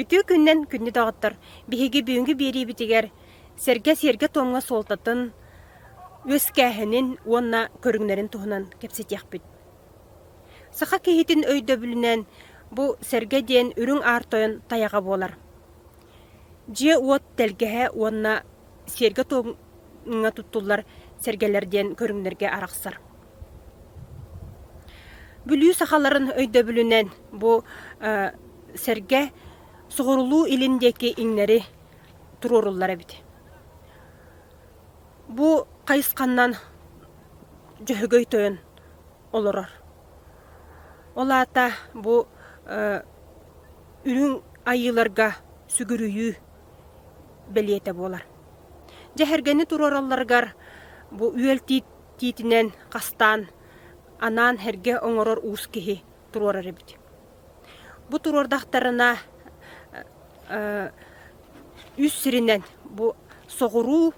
Үтүө күннэн күндү доҕоттор! Биһиги бүгүҥҥү биэриибитигэр сэргэ сиэргэ-туомҥа суолтатын, үөскээһинин уонна көрүҥнэрин туһунан кэпсэтиэхпит. Саха киһитин өйдөбүлүнэн бу сэргэ диэн үрүҥ аар тойон тайаҕа буолар. Дьиэ-уот тэлгэһэ уонна сиэргэ-туомҥа туттуллар сэргэлэр диэн көрүҥнэргэ арахсар. Бүлүү сахаларын өйдөбүлүнэн бу сэргэ соҕурулуу-илин диэки иҥнэри туруоруллар эбит. Бу хайысханан Дьөһөгөй тойон олорор. Ол аата бу үрүҥ айыыларга сүгүрүйүү бэлиэтэ буолар. Дьэһэргэни туруоралларыгар бу үөл тиит тиитинэн хастаан анаан эргэ оҥорор уус киһи туруорар эбит. Бу туруордахтарына үс сиринэн бу соҕуруу,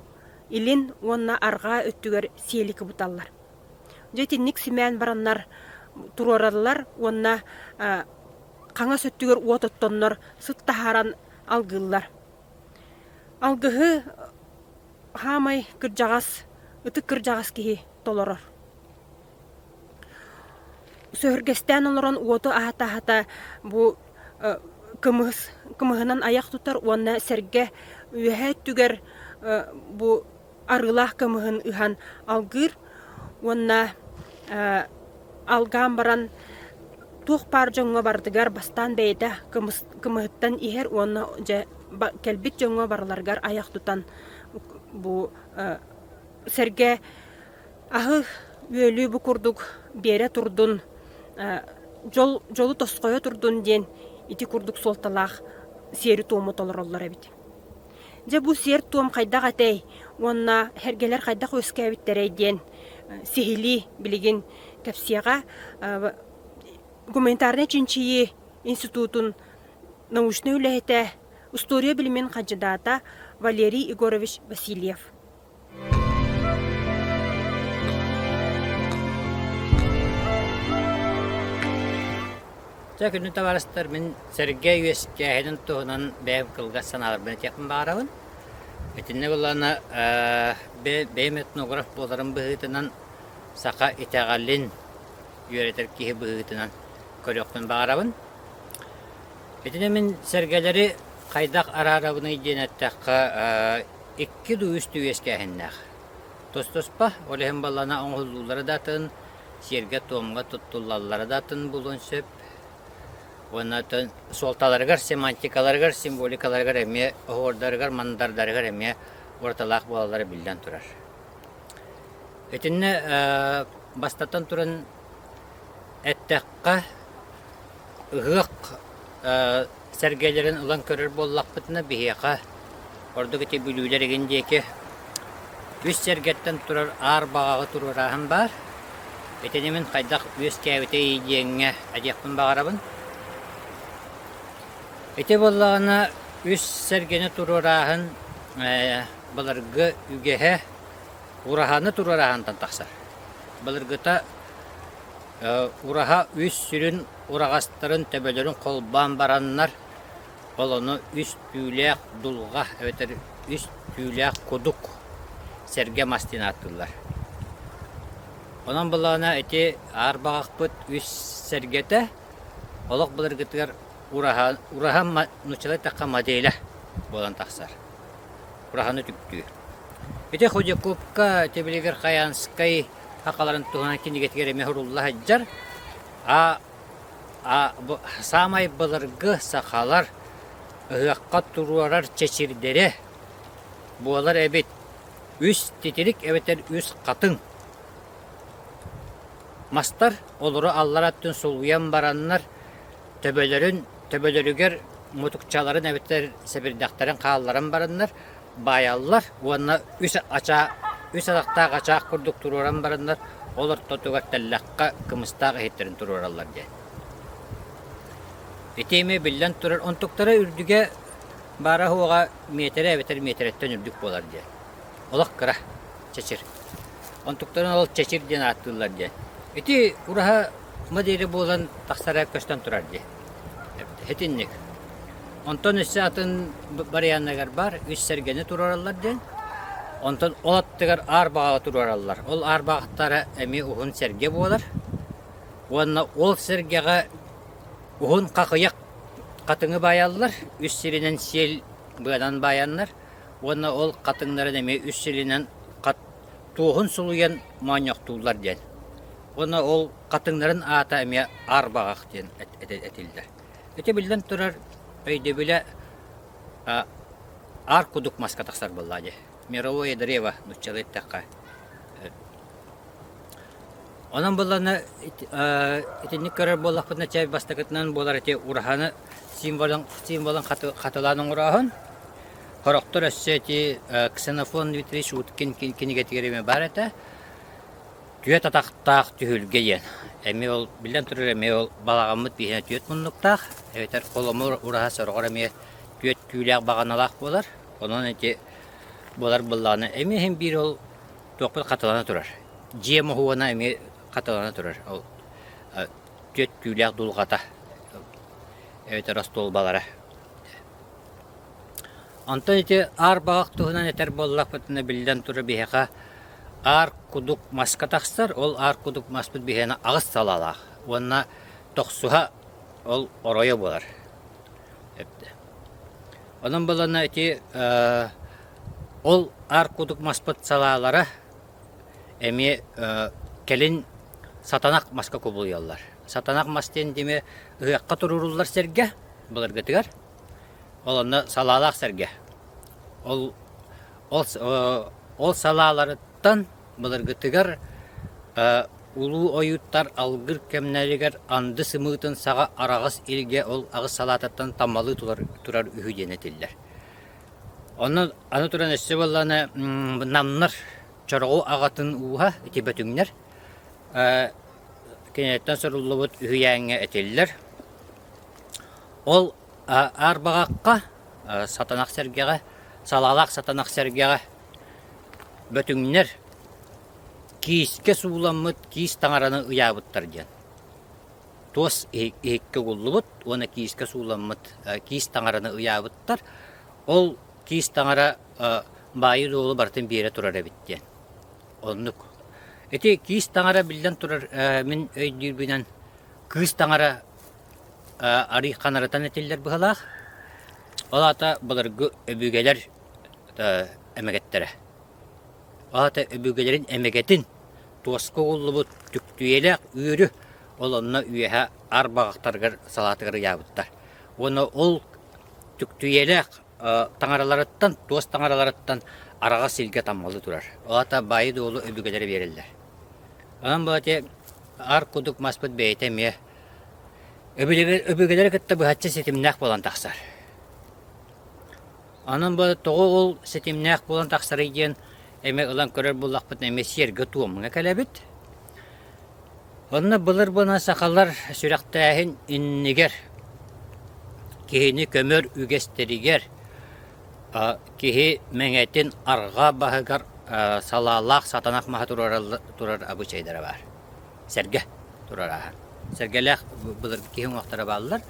илин уонна арҕаа өттүгэр сиэлики буталлар. Дьэ итинник симээн бараннар туруораллар уонна хаҥас өттүгэр уот оттоннор сыт таһааран алгыыллар. Алгыһы хаамай кырдьаҕас, ытык кырдьаҕас киһи толорор. Сөһүргэстээн олорон уоту аһата-аһата бу кымыс, кымыһынан айах тутар уонна сэргэ үөһэ өттүгэр бу арыылаах кымыһын ыһан алгыыр. уонна алгаан баран туох баар дьоҥҥо барытыгар бастаан бэйэтэ кымыһыттан иһэр уонна дьэ кэлбит дьоҥҥо барыларыгар айах тутан бу сэргэ аһы үөлүү бу курдук биэрэ турдун дьолу тосхойо турдун диэн ити курдук суолталаах сиэри-туому толороллор эбит Дьэ, бу сиэр-туом хайдах этэй уонна эргэлэр хайдах үөскээбиттэрэй диэн сиһилии билигин кэпсиэҕэ. Гуманитарнай чинчийии институтун научнай үлэһитэ, устуоруйа билимин хандьыдаата Валерий Егорович Васильев. Чэ күнү табарыстар мин Сергей үөскээһинин туһунан бэйэм кылгас санааларбын этиэхпин баҕарабын. Итиннэ буллана бэйэм этнограф буоларым быһыытынан саха итэҕэлин үөрэтэр киһи быһыытынан көрүөхпүн баҕарабын. Итини мин сэргэлэри хайдах араарабыный диэн эттэххэ Икки дуу үс дуу үөскээһиннээх. Тостоспо, ол иһин баллана оҥоһуллуулара да атын, сиэргэ-туомга туттуллаллара да атын буолуон сөп. Уонна суолталарыгар, семантикаларыгар, символикаларыгар эмиэ, оһуордарыгар, мандардарыгар эмиэ уратылаах буолаллара биллэн турар. Итиннэ бастатан туран эттэххэ, ыһыах сэргэлэрин ылан көрөр буоллахпытына, биһиэхэ, ордук ити бүлүүлэр игин диэки, үс сэргэттэн турар аар баҕаҕа туруорааһын баар. Итини мин хайдах үөскээбитэй диэҥҥэ этиэхпин баҕарабын. Ити буоллаҕына, үс сэргэни туруорааһын былыргы үгэһэ ураһаны туруорааһынтан тахсар. Былыргыта ураһа үс сүрүн ураҕастарын төбөлөрүн холбоон бараннар, олону үс түүлээх дулҕа эбэтэр үс түүлээх кудук сэргэ мастыын ааттыыллар. Онон былаана ити аар баҕахпыт үс сэргэтэ олох былыргытыгар ураһа, ураһа нууччалар эттэххэ моделя буолан тахсар. Ураһаны түптүүр. Ити Худякубка Тибилигир Хаянскай хақаларын туһунан кинигэтигэр эмэ сурулла сылдьар. Саамай былыргы сахалар ыһыахха туруорар чэчирдэрэ буолар эбит. Үс титирик эбэтэр үс хатыҥ. Мастар олору аллара өттүн сулуйан бараннар, төбөлөрүн, төбөлөрүгэр мутукчаларын эбэтэр сэбирдэхтэрин хаалларан бараннар, Баайаллар уонна үс ачаа, үс атахтаах ачаах курдук туруоран бараннар, ол ортотугар тэллэххэ кымыстаах иһиттэрин туруораллар диэн. Ити эмиэ биллэн турар, онтуктара үрдүгэ баара-суоҕа миэтэрэ эбэтэр миэтэрэттэн үрдүк буолар диэн. Олох кыра, чэчир. Онтуктарын ол чэчир диэн ааттыыллар диэн. Ити ураһа модели буолан тахсара көстөн турар дии. Итинник. Онтон өссө атын барыйааннарыгар баар үс сэргэни туруораллар диэн. Онтон ол аттыгар аар баҕаҕа туруораллар. Ол аар баҕахтара эмиэ уһун сэргэ буолар. Уонна ол сэргэҕэ уһун хахыйах хатыҥы баайаллар, үс сиринэн сиэл быанан баайаннар. Уонна ол хатыҥнарын эмиэ үс сиринэн хат туоһун сулуйан моонньохтууллар диэн. Уонна ол хатыҥнарын аата эмиэ аарбаҕах диэн этиллэр. Ити биллэн турар өйдөбүлэ аар кудук маска тахсар буолла дии. Мировое древо нуччалыы эттэххэ. Онон буллана итинник көрөр буоллахпытына чай бастакытынан буолар ити ураһаны символын символын хатылаан оҥороһун. Хороктор өссө ити Ксенофон Витрич Уткин кинигэтигэр эмэ бар этэ. Түөрт атахтаах түһүлгэ диэн. Эмиэ ол, биллэн турар, эмиэ ол балаҕаммыт иһинэ түөрт муннуктаах, эбэтэр холомуур ураһа сороҕор эмиэ түөрт түүлээх баҕаналаах буолар. Онон ити буолар буоллаҕына, эмиэ иһин биир ол туохпут хатылана турар. Дьиэ моһуона эмиэ хатылана турар. Ол э, түөрт түүлээх дулҕата эбэтэр остуолбалара. Онтон ити аар баҕах туһунан этэр буоллахпытына, биллэн турар, биһиэхэ аар кудук маска тахсар, ол аар кудук маспыт биһиэнэ аҕыс салалаах уонна тохсуһа ол оройо буолар. Онон буоллаҕына ити ол аар кудук маспыт салаалара эмиэ кэлин сатанах маска кубулуйаллар. Сатанах мас диэн дьиҥэ ыһыахха туруоруллар сэргэ былыргытыгар Ол онно салаалаах сэргэ. Ол ол ол салааларыттан былыргытыгар улуу ойууттар алгыр кэмнэригэр анды сымыытын саҕа араҕас илгэ ол аҕыс салаатыттан таммалыы турар турар үһү диэн этиллэр. Онно аны туран өссө буоллаҕына намнар чороҕу аҕатын ууһа ити бөтүҥнэр киниттэн суруллубут үһүйээҥҥэ этиллэр. Ол арбаҕахха, сатанах сэргэҕэ, салаалаах сатанах сэргэҕэ бөтүҥнэр киискэ сууламмыт киис таҥараны ыйаабыттар диэн. Туос иһиккэ угуллубут уонна киискэ сууламмыт киис таҥараны ыйаабыттар. Ол киис таҥара баайы-дуолу барытын биэрэ турар эбит диэн. Оннук. Ити киис таҥара, биллэн турар, мин өйдүүрбүнэн кыыс таҥара арый ханарытан этиллэр быһалаах. Ол аата былыргы өбүгэлэр эмэгэттэрэ. Ол аата өбүгэлэрин эмэгэтин туоска угуллубут түктүйэлээх үөрү ол онно үөһэ ар баҕахтарыгар салаатыгар ыйаабыттар. Уонна ол түктүйэлээх таҥараларыттан, туос таҥараларыттан араҕас сиргэ таммалы турар. Ол аата баайы-дуолу өбүгэлэрэ биэрэллэр. Аны баҕатыы ар курдук маспыт бэйэтэ эмиэ Өбүгэлэри кытта быһаччы ситимнээх буолан тахсар. Онон бу тоҕо ол ситимнээх буолан тахсарый диэн эмиэ ылан көрөр буоллахпытына эмиэ сиэргэ-туомҥа кэлэбит. Онно былыр буолан сахалар сүрэхтээһин иннигэр киһини көмөр үгэстэригэр киһи мэҥэтин арҕаа баһыгар салаалаах сатанах маһа турар абыычайдара баар. сэргэ турар ааһар. Сэргэлээх былыргы киһи уҥуохтара бааллар.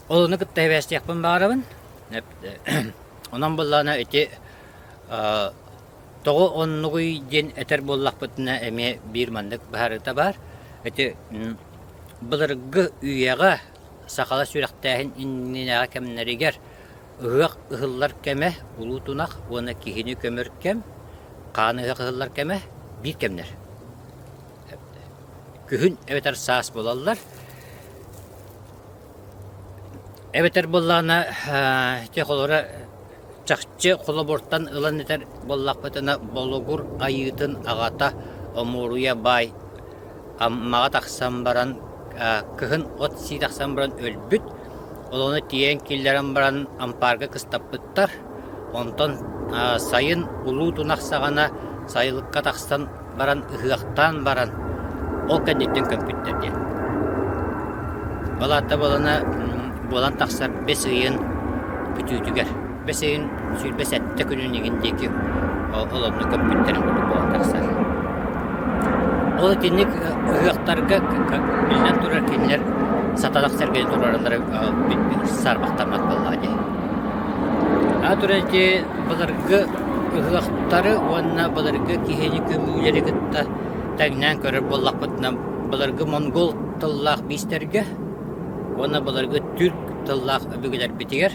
Ол ону кытта эбээстиэхпин баҕарабын. Онон буоллаҕына ити тоҕу оннугуй диэн этэр буоллахпытына эмиэ биир маннык быһаарыыта баар. Ити былыргы үйэҕэ сахалар сүрэхтээһин иннинээҕи кэмнэригэр Ыһыах ыһыллар кэмэ улуу тунах уонна киһини көмөр кэм, хаан ыһыах ыһыллар кэмэ биир кэмнэр. Күһүн эбэтэр саас буолаллар. Эбэтэр буоллаҕына ити холоро чахчы холобуртан ылан этэр буоллахпытына, Болугур айыытын аҕата Омуоруйа баай Аммаҕа тахсан баран, кыһын от сии тахсан баран өлбүт. Ол ону тиэйэн киллэрэн баран ампаарга кыстаппыттар. Онтон сайын улуу тун ахсаҕына сайылыкка тахсан баран ыһыахтаан баран ол кэнниттэн көмпүттэр диэн. Ол аата буолана буолан тахсар бэс ыйын бүтүүтүгэр. Бэс ыйын сүүрбэ сэттэ күнүн иҥин диэки ол онно көппүттэрин курдук буола тахсар. Ол итинник ыһыахтарга биллэн турар кинилэр сата тахсарга туруораллара саарбахтаммат буоллаҕа дии. Аны турар дии былыргы ыһыахтары уонна былыргы киһини көмүүлэри кытта тэҥнээн көрөр буоллахпытына былыргы монгол тыллаах биистэргэ уонна былыргы түрк тыллаах өбүгэлэрбитигэр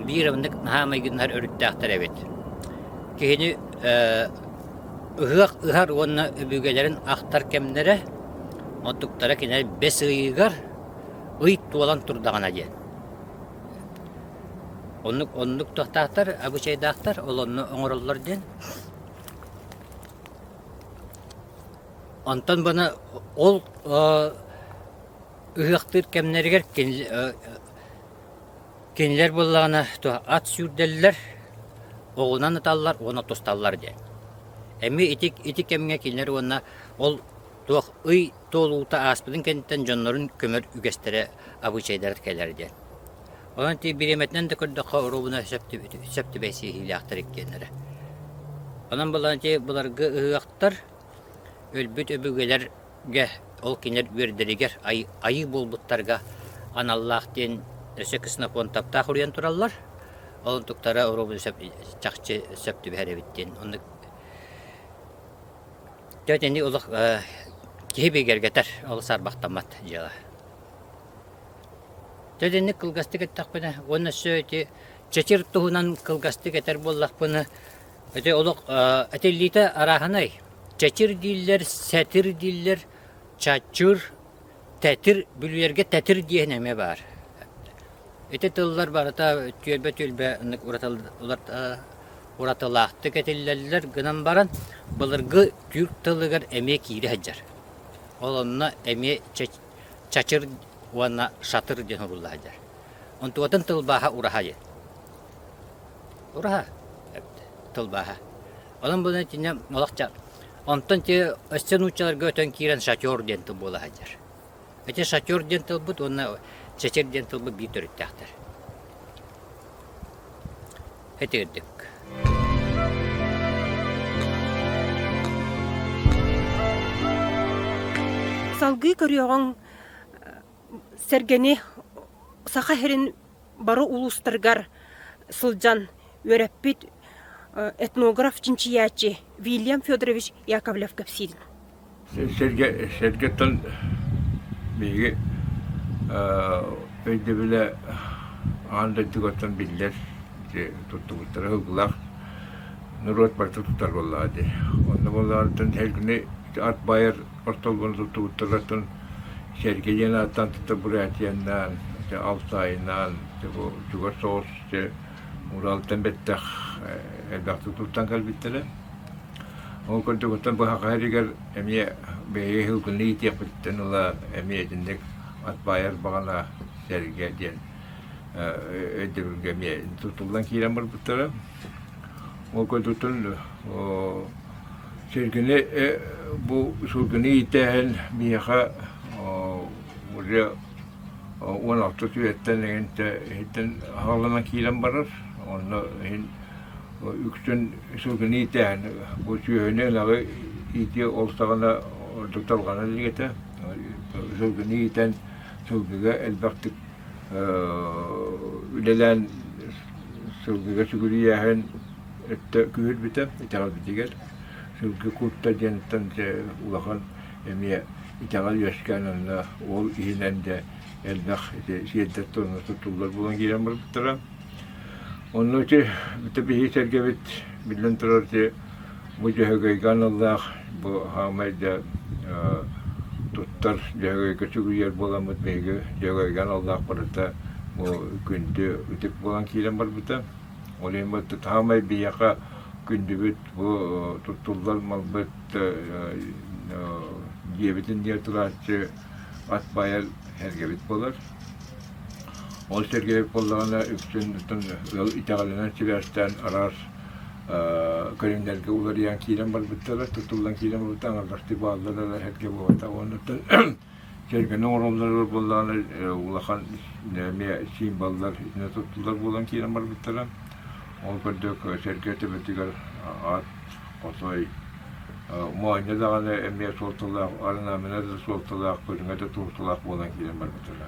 биир ыннык наһаа майгыннар өрүттээхтэр эбит. Киһини ыһыах ыһар уонна өбүгэлэрин ахтар кэмнэрэ онтуктара кинилэр бэс ыйыгар ый туолан турдаҕына диэн. Оннук оннук тохтаахтар, абычайдаахтар олонно оҥороллор диэн. Онтон бана ол ыһыахтыыр кэмнэригэр Кинилэр буоллаҕына туох ат сүүрдэллэр, оҕунан ыталлар уонна тусталлар диэн. Эми ити ити кэмҥэ кинилэр уонна ол туох ый туолуута ааспытын кэнниттэн дьоннорун көмөр үгэстэрэ, обычайдара кэлэр диэн. Онон ити бириэмэтинэн да көрдөххө оруобуна сөп түбэһисиһиилээхтэр иккиэннэрэ. Онон буоллаҕына ити былыргы ыһыахтар, өлбүт өбүгэлэр Гэ ол кинилэр үөрдэригэр айыы буолбуттарга аналлаах диэн өссө Ксенофонтовтаах уруйан тураллар. Ол онтуктара оруобуна сөп, чахчы сөп түбэһэр эбит диэн. Оннук Тө итини олох киһи бигэргэтэр олус арбахтаммат дьыала. Тө итинник кылгастык эттэхпинэ, уонна өссө ити чэчир туһунан кылгастык этэр буоллахпына, Ити олох этиллиитэ арааһынай. Чэчир дииллэр, сэтир дииллэр, чаччыр, тэтир, бүлүйэргэ тэтир диэһин эмиэ баар. Ити тыллар барыта түөлбэ-түөлбэ ыннык уратылаахтык этиллэллэр гынан баран, былыргы түүр тылыгар эмиэ киири сылдьар. Ол онно эмиэ чачыр уонна шатыр диэн сурулла сылдьар. Онтубатын тылбааһа ураһа Ураһа тылбааһа. Онон-бунан итиннэ олохча онтон те өссө нууччаларга өтөн киирэн шатер диэн тыл буола сылдьар. Ити шатер диэн тылбыт уонна чэчир диэн тылбыт биир төрүттээхтэр. Этирдик. Салгыы көрүөҕүҥ сэргэни саха сирин бары улуустаргар сылдьан үөрэппит этнограф-чинчийээччи Вильям Федорович Яковлев кэпсиирин. Сэргэ, сэргэттэн биһиги өйдөбүлэ аан дойдугаттан биллэр туттубуттара ылгылаах норуот барыта туттар буоллаҕа дии. Онно буоллаҕыттан сэргини ат байар Ортолбун туттубуттар атын сэргэ диэн ааттаан тыта Бурятианнаан, ити Алтайнаан, чугас соҕус Уралтан бэттэх элбэхтик туттан кэлбиттэрэ. Ол курдугуттан быһаҕа эригэр эмиэ бэйэ ыһылгыны иитиэхпиттэн ыла эмиэ итинник ат баайар баҕана сэргэ диэн өйдөбүлгэ эмиэ тутуллан киирэн барбыттара. Ол көрдүттэн сиргини бу сылгыны иитээһин биһиэхэ уже уон алта түһүөттэн эгинтэ иһиттэн аһаҕаланан киирэн барар. Онно иһин үксүн сылгыны иитээһин бу сүөһүнү ынаҕы иитии ол саҕана ордук тарҕанар илиитэ. Сылгыны иитэн сылгыга элбэхтик үлэлээн сылгыга сүгүрүйээһин өттө күүһүрбүтэ итэҕэлбитигэр сылгы куурта диэниттэн дьэ улахан эмиэ итэҕэл үөскээн онно ол иһинэн дьэ элбэх ити сиэрдэр туонна туттуллар буолан киирэн барбыттара Онно ити бүтэбиһии сэргэбит, биллэн турар, ити бу дьөһөгөйгө аналлаах бу хаамай да туттар дьөһөгөйгө сүгүрүйэр буоламмыт, биһиги дьөһөгөйгө аналлаах барыта бу күндү ытык буолан киирэн барбыта. Ол иһин барыта хаамай биһиэхэ күндүбүт, бу туттуллар малбыт диэбитин диэн ытылааччы ат баайан эргэбит буолар. Ол сэргэбит буоллаҕына үксүн ыал итэҕэлинэн сибээстээн араас көрүҥнэргэ уларыйан киирэн барбыттара, тутуллан киирэн барбыттара, аҥардастыы бааллара да эргэ буолбата. Оннуттан сэргэни оҥороллоро буоллаҕына улахан эмиэ символлар итинэ туттуллар буолан киирэн барбыттара. Ол курдук сэргэ төбөтүгэр аат Хотой моонньо даҕаны эмиэ суолталаах, орнамене да суолталаах, көрүҥэ да турукталаах буолан киирэн барбыттара.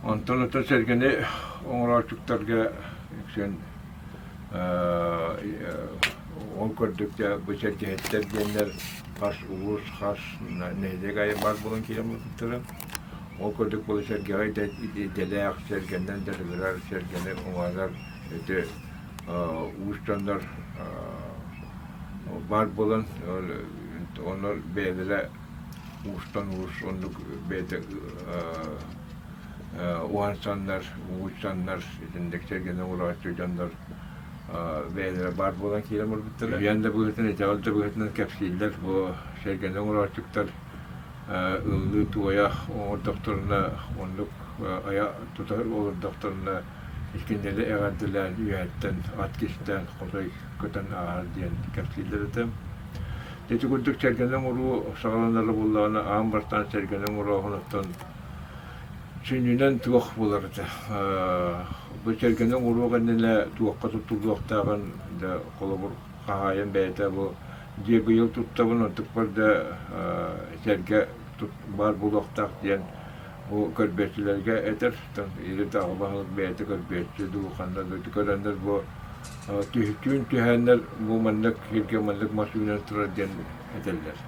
Онтон ото сэргэни оҥорооччуктарга үксүн ол көрдүккэ бу сэргэһиттэр диэннэр хас улуус, хас нэһилиэк аайы баар буолан киирэн барбыттара. Ол курдук бұл сэргэҕэ идэлээх сэргэннэн да сытар сэргэни оҥорор өтө уус дьоннор баар буолан оннор бэйэлэрэ уустан уус оннук бэйэтэ уһансаннар угучсаннар итинник сэргэнэ ураҕаччы дьоннор бэйэлэрэ баар буолан киирэн барбыттара үйээн да быһыытынан итэҕэл да быһыытынан кэпсииллэр бу сэргэнэ ураҕаччыктар ылыныы туойаах оҥордохторуна, оннук айа тута олордохторуна, иккиннэли эҕэрдэлээн үөһэттэн ат кистээн хотой көтөн ааһар диэн кэпсииллэр этэ. Ити курдук сэргэни оҥоруу саҕаланара буоллаҕына, аан бастаан сэргэни оҥорооһунуттан сүнньүнэн туох буолар этэ. Бу сэргэни оҥоруу кэннинэ туохха туттуллуохтааҕын да холобур хаһаайын бэйэтэ бу диагыйыл туттабын, онтукпар да сэргэ баар буолуохтаах диэн бу көрбүөччүлэргэ этэр. Или даҕы баһылык бэйэтэ көрбүөччү дуу, ханна да көрөннөр бу түһүтүүн түһээннэр бу маннык сиргэ маннык мас үүнэн турар диэн этэллэр.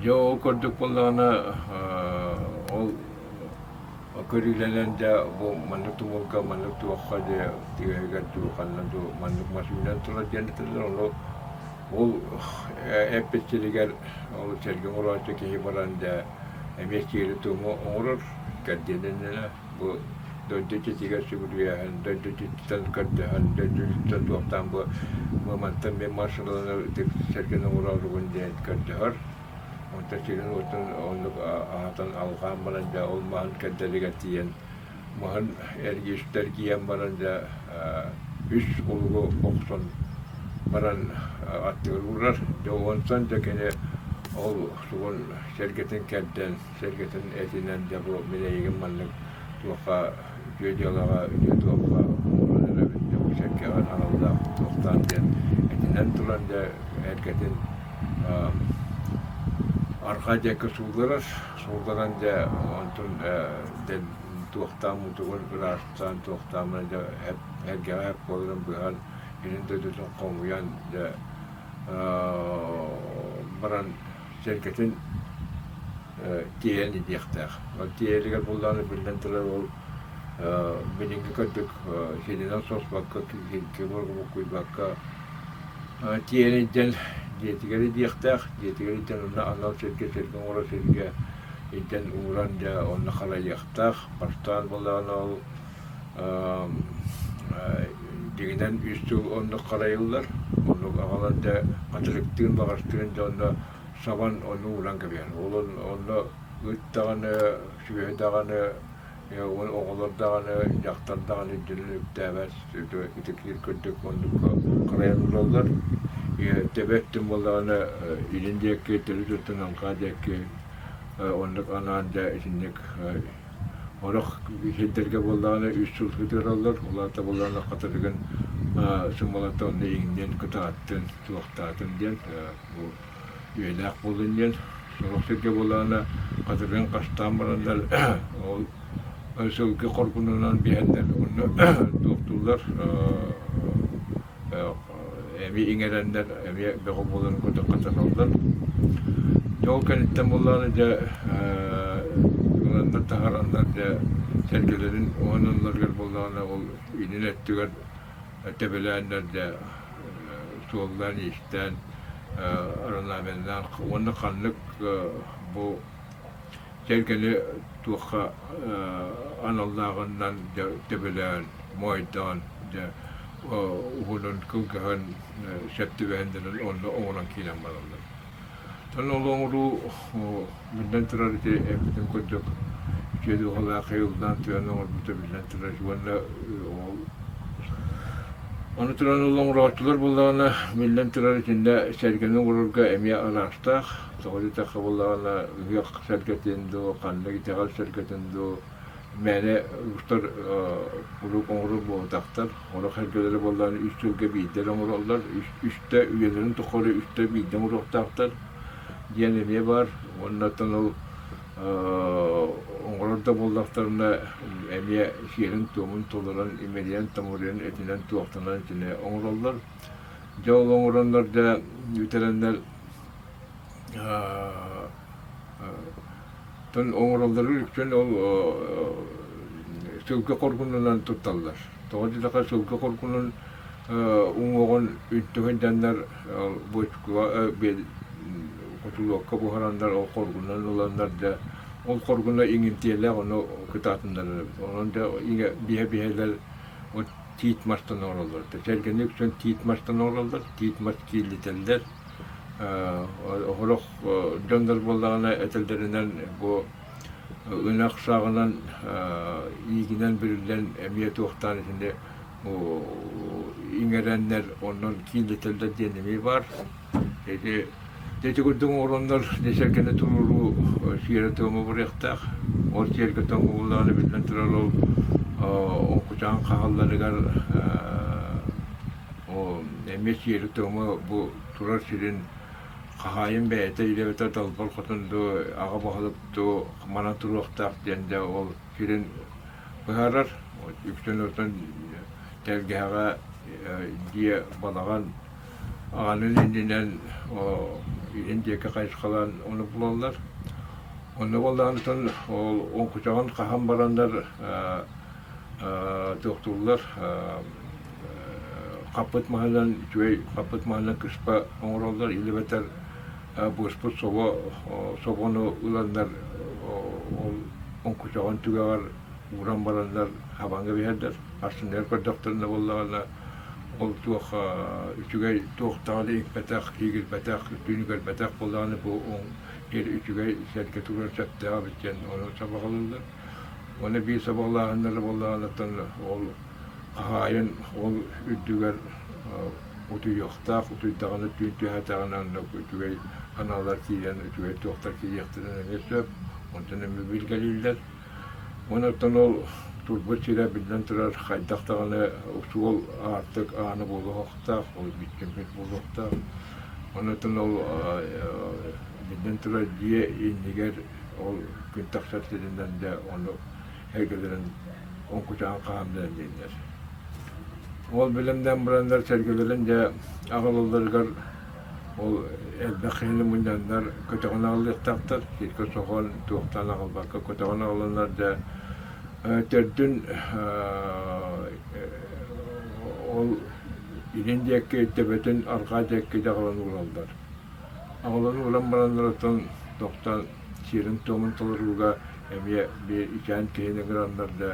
Дьэ ол курдук буоллаҕына ол Көрүүлэнэн да бу маннык тумулга маннык туохха дьэ түөһүгэр дуу ханна дуу маннык мас үүнэн турар диэн этилэр ону ол эппит сиригэр ол сэргэ оҥорооччу киһи баран да эмиэ сиэри-туому оҥорор кэрдиэнинэнэ бу дойду иччитигэр сүгүрүйэһэн дойду иччититтэн көрдөһөн дойду иччититтэн туохтаан бу бу мантан мин маршалланар ытык сэргэни оҥорооругун диэн көрдөһөр Онтон сирин-уотун оннук аһатан алҕаан баран дьэ ол маһын кэрдэригэр тиийэн маһын эргийэн баран дьэ үс кулугу охсон баран аттыгар уурар. Дьэ онтон дьэ кини ол сугун сэргэтин кэрдэн, сэргэтин этинэн дьэ бу мин эйигин маннык туохха үтүө дьыалаҕа, үтүө дуолга олорон эрэбит. Дьэ бу сэргэҕин аналлаах туохтаан диэн этинэн туран дьэ эргэтин арҕаа диэки суулларар, суулларан дьэ онтун туохтаан мутугун ыраастаан туохтаамына дьэ эргэҕэ эп буоларын быһан илин дойдутун хомуйан дьэ баран сэргэтин тиэйэн иһиэхтээх. Ол тиэйэригэр буоллаҕына, биллэн турар, ол билиҥҥи курдук сиринэн соспокка, кимургубуккуйбакка тиэйэн илдьэн дьиэтигэр иһиэхтээх. Дьиэтигэр илдьэн онно анал сиргэ, сиргэ оҥорор сиргэ илдьэн ууран дьэ онно харайыахтаах. Бастаан буоллаҕына ол дьиҥинэн үс сыл оннук харайыллар. Оннук аҕалан да хачырыктыын баҕастыын дьонно сабан ону уунан кэбиһэр. Ол онно ыттаҕаны, сүөһү даҕаны, оҕолор даҕаны, дьахтар даҕаны үрдүнэн үктээбэт итиkiир курдук муннукка харайан ылаллар. Тэбэт тым буоллаҕына илин диэки төлү туттан аҥхаа диэки оннук анаан да итинник Олох сирдэргэ буоллаҕына үс сыл сытыараллар, ол аата буоллаҕына хатырыгын сымалата онно иҥниэн, кытааттын, туохтаатын диэн бу үйэлээх буоллун диэн сорох сиргэ буоллаҕына хатырыгын хастаан бараннар ол сылгы хоргунунан биэһэннэр онно туохтууллар эми иҥэрэннэр эмиэ бөҕө буоларын көтөххө дьэ ол кэнниттэн буоллаҕына дьэ ыланнар таһараннар дьэ сэргэлэрин уһананнарыгар буоллаҕына ол инин өттүгэр тэбэлээннэр дьэ суоллаан иистээн орнаменнаан уонна ханнык бу Тэлгэни туохха аналлааҕынан дьэ төбөлөөн, моойдоон, дьэ уһунун кылгыһан сөп түбэһиннэрэн онно оҥорон киирэн бараллар. Ону ол оҥоруу биллэн турар ити эппитим курдук үтүө дууһалаах айыллаан тыаны оҥорбута биллэн турар уонна ол Ону туран ол оҥорооччулар буоллаҕына, биллэн турар, итиннэ сэргэни оҥорорго эмиэ алаастаах. Тоҕо диэтэр хабыллаҕына ыһыах сэргэтин дуу, ханнык итэҕэл сэргэтин дуу мээнэ устар кулууп оҥорор буолбатахтар. Олох эргэлэрэ буоллаҕына үс сылга биирдэ оҥороллор, үстэ үйэлэрин тухары үстэ биирдэ оҥоруохтаахтар диэн эмиэ баар. Уоннаттан ол оҥорор да буоллахтарына эмиэ сиэрин-туомун толорон, имэрийэн-томоруйан этинэн-туохтанан итини оҥороллор. Дьэ ол оҥороннор да бүтэрэннэр оҥороллорун үтүөн ол сылгы хоргунунан тутталлар. Тоҕо диэтэххэ сылгы хоргунун уҥуоҕун үнтүһуйданнар ол бочкуга кутулуокка буһараннар ол хоргунунан ыланнар дьэ ол хоргуна иҥинтиэлээх ону кытаатыннар онон дьэ бииһэ-бииһэлэр Вот тиит мастан оҥороллор. Да сэргэни үксэн тиит мастан оҥороллор, тиит мас киэллитэллэр. Оһорох дьоннор буоллаҕына этэллэринэн бу ынах сааҕынан иигинэн бүрүллэн эмиэ туохтаан итини иҥэрэннэр онон кииллитэллэр диэн эмиэ баар. Ити ити курдук оҥороннор ити сэргэни туруоруу сиэрэ-туома буолуохтаах. Ол сиэргэтэн угуллаҕына биллэн турар ол оҥкучаан хаалларыгар эмиэ сиэрэ-туома бу турар сирин хаһаайын бэйэтэ үлэбитэ далбар хотон дуу, аҕа баһылык дуу манан туруохтаах диэн да ол сирин быһаарар. Үксүн оттон тэлгэһэҕэ дьиэ балаҕан аанын иннинэн иһин диэки хайысхалаан ону булаллар. Ону булаанытын оҥкучаҕын хаһан бараннар туохтууллар хаппыт маһынан үчүгэй хаппыт маһынан кыспа оҥороллор илибэтэр буоспут собо собону ыланнар ол оҥкучаҕын түгэҕэр ууран бараннар хабаҥҥа биһэрдэр, харсыныгар көрдөхтөрүнэ буоллаҕына Ол туох үчүгэй, туохтаҕына иҥпэтэх, киигирбэтэх, түүнү көрбөтөх буоллаҕына бу диэн үчүгэй сэргэ туруор сөптөөҕө эбит диэн ону сабаҕалыыллар. Уонна биир сабаҕалааһыннара буоллаҕыттан ол хаһаайын ол үрдүгэр утуйуохтаах, утуйдаҕына түүн түһээтэҕинэ онно үчүгэй аналлар киирэн үчүгэй туохтар киириэхтэрин эмиэ сөп. Онтон эмиэ билгэлииллэр. Онтон ол турбут сирэ, биллэн турар, хайдах даҕаны суол аартык аана буолуохтаах, бүччүмпүт буолуохтаах. Онтон ол биллэн турар, дьиэ иннигэр ол күн тахсар сиринэн да ону эгэлэрин оҥкучаан хаһаамнаран дииллэр. Ол бэлэмнээн бараннар сэргэлэрин дьэ аҕалалларыгар Ол элбэх киһини мунньаннар көтөҕөн аҕалыахтаахтар, сиргэ соһон, туохтаан аҕалбакка көтөҕөн аҕаланнар да төрдүн ол илин диэкки төбөтүн арҕаа диэкки да аҕалан уураллар. Аҕалан ууран бараннар оттон тохтоон сиэрин-туомун толорууга эмиэ бэйэчээн киһини граннар да,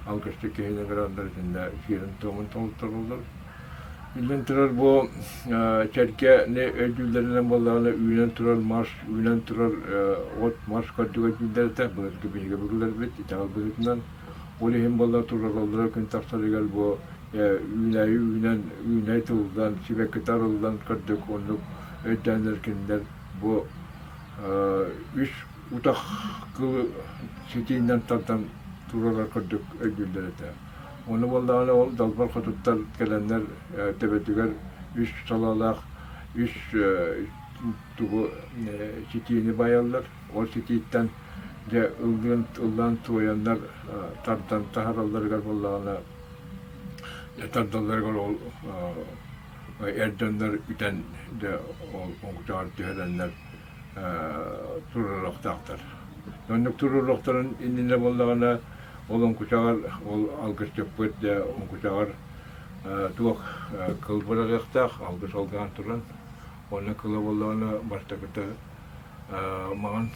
алгысчыт киһини граннар итиннэ сиэрин-туомун толороллор. Иллэн турар бу сэргэ өйдүүллэринэн буоллаҕына үүнэн турар мас, үүнэн турар от, мас курдук өйдүүллэр этэ. Былыргы биһиги бурууларбыт итэҕэл быһыытынан. Ол иһин буолла турараллара күн тахсарыгар бу үүнээйи үүнэн, үүнээй тыллан, сибэккитэ арыллан курдук оннук өйдөөннөр кинилэр бу үс утах кыл ситиинэн тардан турарар курдук өйдүүллэр этэ. Ону буоллаҕына ол Далбар Хотуттан кэлэннэр төбөтүгэр үс салалаах үс тугу ситиини байаллар. Ол ситииттэн дьэ ыллыан ыллаан туойаннар тардан таһаралларыгар буоллаҕына тардалларыгар ол эрдэннэр үтэн дьэ ол оҥчоҕор түһэрэннэр туруоруохтаахтар. Оннук туруоруохтарын иннинэ буоллаҕына, ол оҥкучаҕар, ол алгысчыппыт оҥкучаҕар туох кыл быраҕыахтаах, алгыс алгаан туран. Уонна кыла буоллаҕына, бастакыта маҥан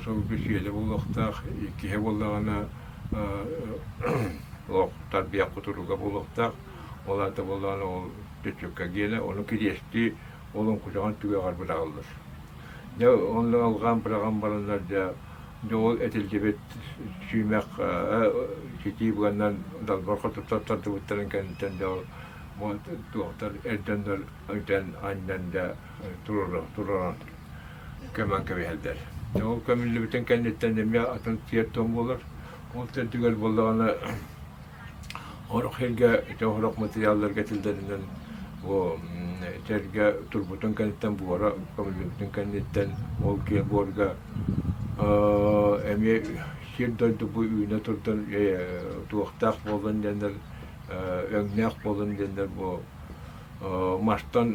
сылгы сиэлэ буолуохтаах, иккиһэ буоллаҕына олох тарбыйах кутуруга буолуохтаах, ол аата буоллаҕына ол түчүккэ гиэнэ, ону кириэстии ол оҥкучаҕын түгэҕэр быраҕыллар. Дьэ онно алҕаан быраҕан бараннар дьэ дьэ ол этиллибит сүүмэх ситии быаннан далбар хотуттан тардыбыттарын кэнниттэн дьэ ол бу туохтар эрдэннэр итэн анньан дьэ туруоран туруоран көмөн кэбиһэллэр. Дьэ ол көмүллүбүтүн кэнниттэн эмиэ атын тиэр тоҥ буолар. Ол төрдүгэр буоллаҕына Сорох сиргэ ити сорох матырыйаалларга этиллэринэн бу сэргэ турбутун кэнниттэн буора көмүллүбүтүн кэнниттэн ол киһи буорга эмиэ сир-дойду бу үүнэ турдан туохтаах буоллун диэннэр өҥнөөх буоллун диэннэр бу Мартан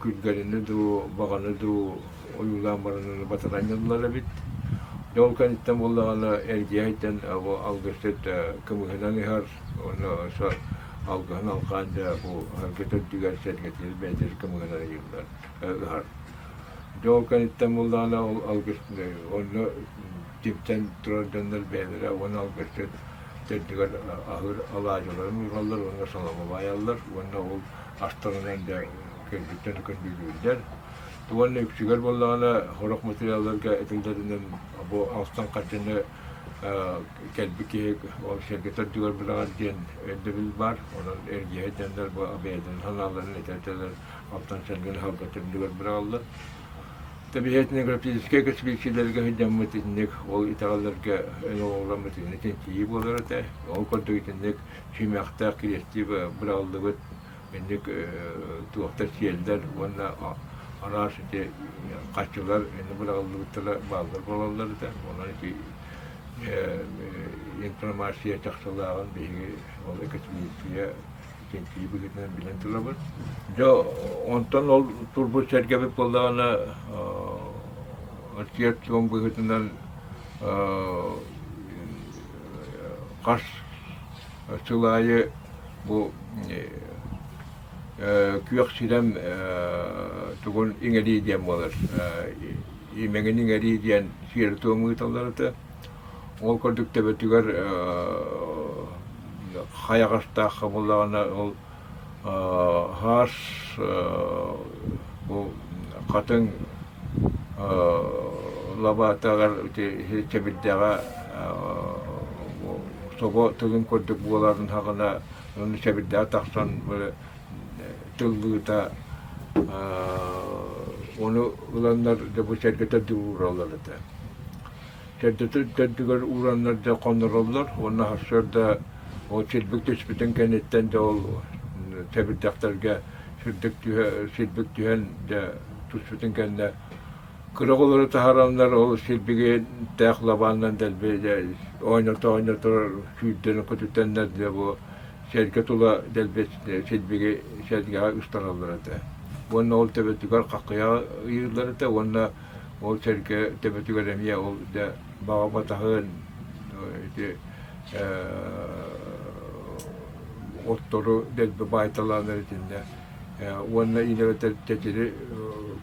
күргэлинэ дуу, баҕаны дуу ойуулаан барананы батаранньаллар эбит. Дьэ ол кэнниттэн буоллаҕына эргийэ айдан бу алгысчыт кымыһынан иһэр уонна алгыһын алҕаан дьэ бу сэргэтэ үрдүгэр сэргэтиир бэйэтэ кымыһынан ыйыыллар ыһар. Дьэ ол кэнниттэн буоллаҕына ол алгыс онно тимсэн турар дьоннор бэйэлэрэ уонна алгысчыт төрдүгэр аһыыр алаадьыларын уураллар уонна салама баайаллар уонна ол астарынан да кэнситтэн көндүүлүүллэр уонна үксүгэр буоллаҕына сорох материалларга этиллэринэн бу астан хадьыны кэлбит киһи ол сэргэ төрдүгэр быраҕар диэн өйдөбүл баар онон эргиһэ диэннэр бу бэйэтин санааларын этэ этэлэр оттон сэргин салга төрдүгэр быраҕаллар Тэбиһиэтинэграфическай көсбиирсийэлэргэ сылдьаммыт итинник, ол итэҕэллэргэ эн оҥоһулламмыт итини чинчийии буолар этэ. Ол курдук итинник сүүмэхтээх кириэстиип быраҕыллыбыт итинник туохтар сиэллэр уонна араас ити харчылар аны быраҕыллыбыттара бааллар буолаллар этэ. Онон ити информация чахчылааҕын биһиги ол экосбиирсийэ кэнсири быһыытынан билэн турабын. Дьэ, онтон ол турбут сэргэбит буоллаҕына, рецепцион быһыытынан хас сыл аайы бу күөх сирэм тугун иҥэрии диэн буолар, имэҥин иҥэрии диэн сиэрэ-туом ыыталлар этэ. Ол курдук төбөтүгэр хайаҕастаах буоллаҕына ол хаас бу хатыҥ лабаатаҕар сэбирдэҕэ собо тылын курдук буоларын аһаҕына уонна сэбирдэҕэ тахсан тыллыыта ону ыланнар да бу сэргэтэр да уураллар этэ төрдүтүн төрдүгэр уураннар да хонороллор уонна сарсыарда ол силбик түспүтүн кэнниттэн да ол тэбирдэхтэргэ сирдик түһэ силбик түһэн дэ туспутун кэннэ кыра оҕолору таһараннар ол силбигинтээх лабааннан дэлби ойното ойнотор сүүрдэнэ көтүтэннэр дэ бу сэргэ тула дэлби силбиги сэргэҕэ ыстараллар этэ уонна ол төбөтүгэр хаххыйаҕа ыйыыллар этэ уонна Ол сэргэ төбөтүгэр эмиэ ол да баҕа батаһын ити оттору дэлби баайталааннар итиннэ уонна иилэрэтэр тэтири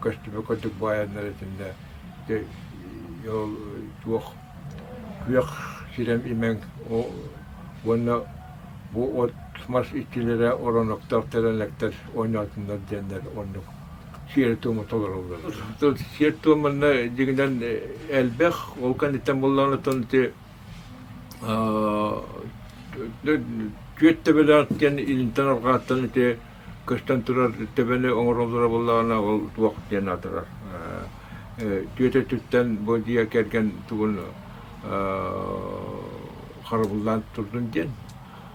көстүмэ курдук баайаннар итиннэ ол туох күөх сирэм имэҥ уонна бу от мас иччилэрэ ороноктоох тэлэнэктэр оонньоотуннар диэннэр оннук сиэр-туому толороллор. Сиэр-туом манна дьиҥинэн элбэх, ол кэнниттэн буоллаҕына оттон ити түөрт төбөлөөх диэн илинтэн арҕааттан ити көстөн турар төбөнү оҥороллоро буоллаҕына ол туох диэн аатырар. Түөтэ өттүттэн бу дьиэ кэргэн тугун харабыллаан турдун диэн.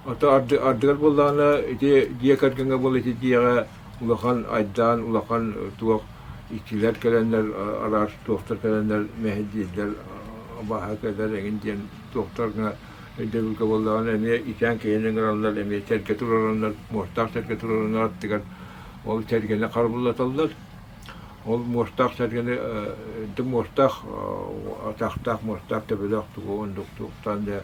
Ото ардыгар буоллаҕына ити дьиэ кэргэҥҥэ буолла ити дьиэҕэ улахан айдаан, улахан туох иккилэр кэлэннэр араас туохтар кэлэннэр мэһэйдииллэр абааһы кэлэр эҥин диэн туохтар гына өйдөбүлгэ буоллаҕына эмиэ ичээн киһини ыҥыраллар эмиэ тэлгэ туруораннар муостаах тэлгэ туруораннар аттыгар ол тэлгэни харбыллаталлар ол муостаах тэлгэни муостаах атахтаах муостаах төбөлөөх тугу оннук туохтаан да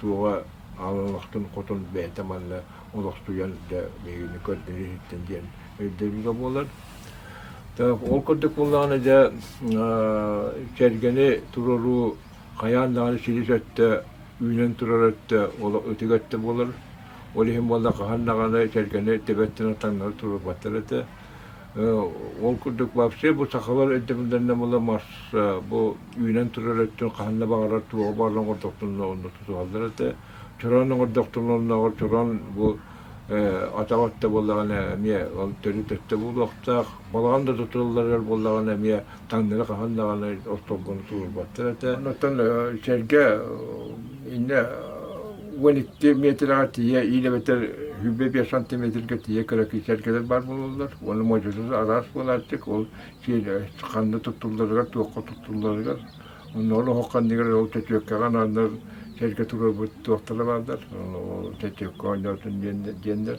Туоҕа аан олохтон хотон бэйэтэ манна олохтуйан да биһигини көрдөрөр иһиттэн диэн өйдөбүлэ буолар. Ол курдук буоллаҕына дьэ кэргэни туруоруу хайаан даҕаны силис өттө үүнэн турар өттө ол ытык өттө буолар. Ол иһин буолла хаһан даҕаны кэргэни тэбэттэн таҥнары туруорбаттар этэ. Ол курдук вообще бу сахалар өйдөбүллэринэн була мас бу үүнэн турар өттүн хаһан да баҕарар туоҕа баалан оҥордохтуна онно тутуһаллар этэ. Чороон оҥордохтуна оннооҕор чороон бу атах өттө буоллаҕына эмиэ ол төрүт өттө буолуохтаах. Балаҕан да тутуллар буоллаҕына эмиэ Таҥнары хаһан даҕаны ортолгону тулурбаттар этэ. Онтон сэргэ иннэ уон икки метрэҕэ тиийэ иин эбэтэр сүүрбэ биэс сантиметргэ тиийэ кыра сэргэлэр баар буолаллар. Уонна модьута араас буолааччык. Ол ханна туттулларыгар, туохха туттулларыгар. Оннооҕор оһох ханныгар ол чөчүөккэҕэ анааннар сэргэ туруорбут туохтара бааллар. Чөчүөккэ оонньоотун диэннэр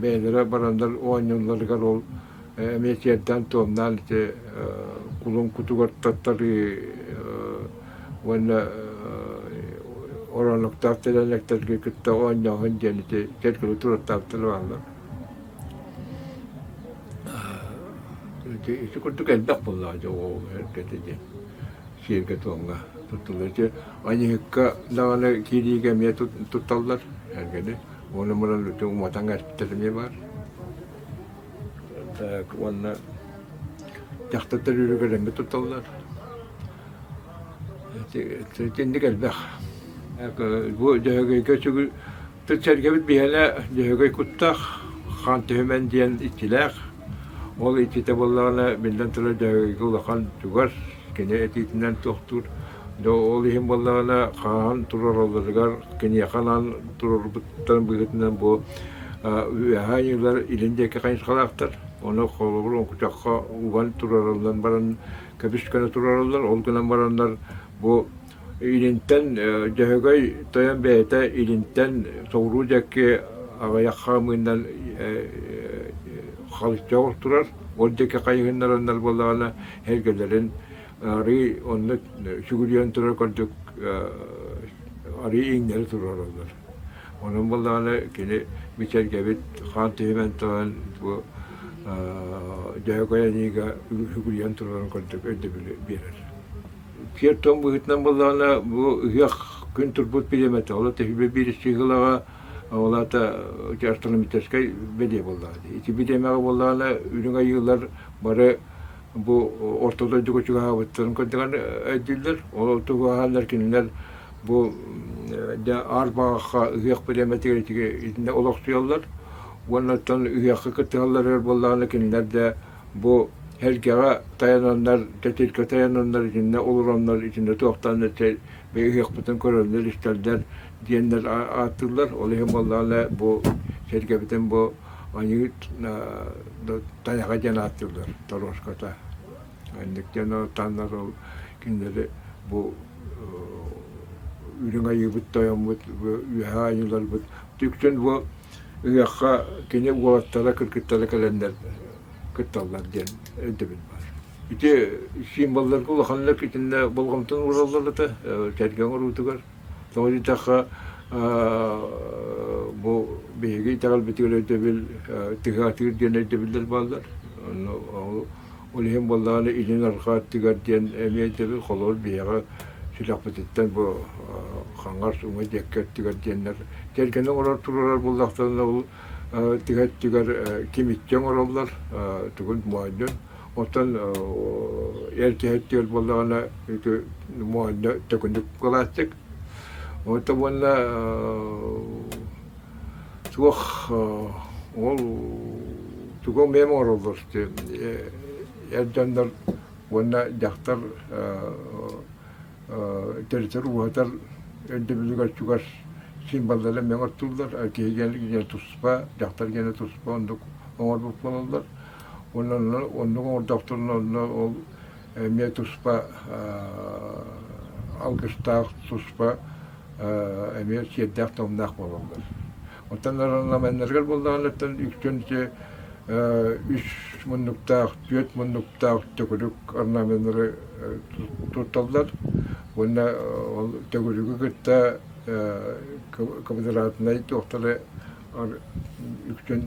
бэйэлэрэ бараннар оонньуулларыгар ол эмиэ сиэрдээн туомнаан ити кулун кутугар таттарыы уонна оронуктаах тэлэнэктэргэ кытта оонньооһун диэн ити кэлгилэ тураттаахтар бааллар ити курдук элбэх буоллаҕа дьэ ол эргэтэ диэн сиэргэ туомга туттуллар ити аньыһыкка даҕаны киириигэ эмиэ тутталлар эргэни Уонна муран үтү уматан эттэлими бар. Уонна дьахтаттар үрүгөлэммит тутталлар. Итинник элбэх. Бу Дьөһөгөйгө сүгүл тыт-сэргэбит биһэлэ Дьөһөгөй куттах, Хан Түһүмэн диэн иччилээх. Ол иччитэ буоллаҕына, биллэн турар Дьөһөгөйгө улахан чугас, кини этиитинэн туохтуур Дьэ ол иһин буоллаҕына хаһан тураралларыгар киниэхэ анаан турарбыттарын быһыытынан бу Үөһээ Айыылар илин диэки хайысхалаахтар. Ону холобур оҥкучахха уган турараллан баран көбүс гына турараллар, ол гынан бараннар бу илинтэн Дьөһөгөй Тойон бэйэтэ илинтэн соҕуруу диэки аҕыйах хаамыынан халычча олох турар, ол диэки хайыһыннараннар буоллаҕына эһэргэлэрин Арыы онно сүгүрүйэн турар курдук арыы иҥнэри туруораллар. Онон буоллаҕына кини бичэргэбит хаан түһүмэн туран бу Дьөһөгөй Аньыыга сүгүрүйэн туруоран курдук өйдөбүлү биэрэр. Сиэр тоҥ быһыытынан буоллаҕына бу ыһыах күн турбут пириэмэтэ оло тэһилбэ биир сыһылаҕа олаата астронометическай бэлиэ буоллаҕына. Ити бириэмэҕэ буоллаҕына үрүҥ айыылар бары бу орто дойдуга чугаһаабыттарын курдугар өйдүүллэр. Ол тугуһалар кинилэр бу аар баҕахха ыһыах бириэмэтигэр итиннэ олохсуйаллар уонна оттон ыһыахха кыттыһаллар өр буоллаҕына кинилэр да бу эргэҕэ тайананнар, тэтиргэ тайананнар итиннэ олороннор итиннэ туохтаан этэ ыһыахпытын көрөллөр-истэллэр диэннэр ааттыыллар. Ол иһин буоллаҕына бу сэргэбитин бу ойуут тайаҕа диэн ааттыыллар торуоската инник диэн оттоннор ол кинилэри бу үрүҥ айыыбыт тойоммут үөһэ айыыларбыт үксүн бу ыһыахха кини уолаттара кыргыттара кэлэннэр кытталлар диэн өйдөбүл бар ити символларга улаханнык итиннэ болҕомтону уураллар это сэргэ оҥоруутугар Тоҕо диэтэххэ бу биһиги итэҕэлбитигэр өйдөбүл тыһы атыыр диэн өйдөбүллэр бааллар. Онно ол иһин буоллаҕына итин арҕаа өттүгэр диэн эмиэ өйдөбүл холобур биһиэхэ сүрэхпититтэн бу хаҥас уҥа диэки өттүгэр диэннэр тэлгэнэ оҥорор туруорар буоллахтарына ол тыһы өттүгэр кимиттэн оҥороллор тугун моойдун Оттон эр киһи өттүгэр буоллаҕына ити муоһунньа төкүнүк кылаастык. Оттон уонна суох ол тугу эмиэ оҥороллор эр дьоннор уонна дьахтар төрөтөр ууһатар өйдөбүлүгэр чугас символлара эмиэ оҥортуллар киһи киэнэ туспа дьахтар киэнэ туспа оннук оҥорбут буолаллар Уонна оннук оҥордохтунна онно ол эмиэ туспа алгыстаах туспа эмиэ сиэрдээх-томнаах буолаллар. Оттон орнаменнарыгар буоллаҕынаттан үксүн үс муннуктаах, түөрт муннуктаах төгүрүк орнаменнары тутталлар уонна ол төгүрүгү кытта квадратнай туохтары үксүн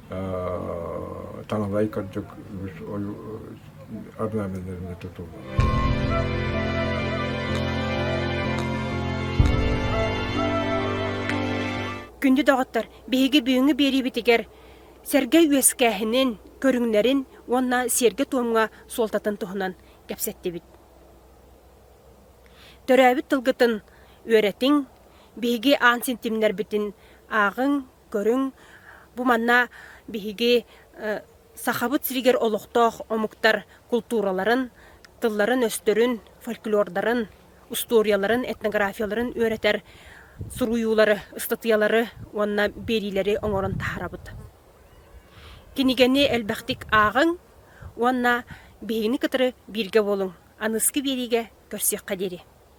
таҥалай кырдьык үгүс ойу орнаменнарына Күндү доҕоттор, биһиги бүгүҥҥү биэриибитигэр сэргэй үөскээһинин, көрүҥнэрин уонна сиэргэ-туомҥа суолтатын туһунан кэпсэттибит. Төрөөбүт тылгытын үөрэтиҥ, биһиги аан син тимнэрбитин ааҕыҥ, Көрүҥ, бу манна биһиги Сахабыт сиригэр олохтоох омуктар култуураларын, тылларын-өстөрүн, фольклордарын, устуоруйаларын, этнографияларын үөрэтэр суруйуулары, ыстатыйалары уонна биэриилэри оҥорон таһаарабыт. Кинигэни элбэхтик ааҕыҥ уонна биһигини кытары бииргэ буолуҥ, аныгы биэриигэ көрсүөххэ диэри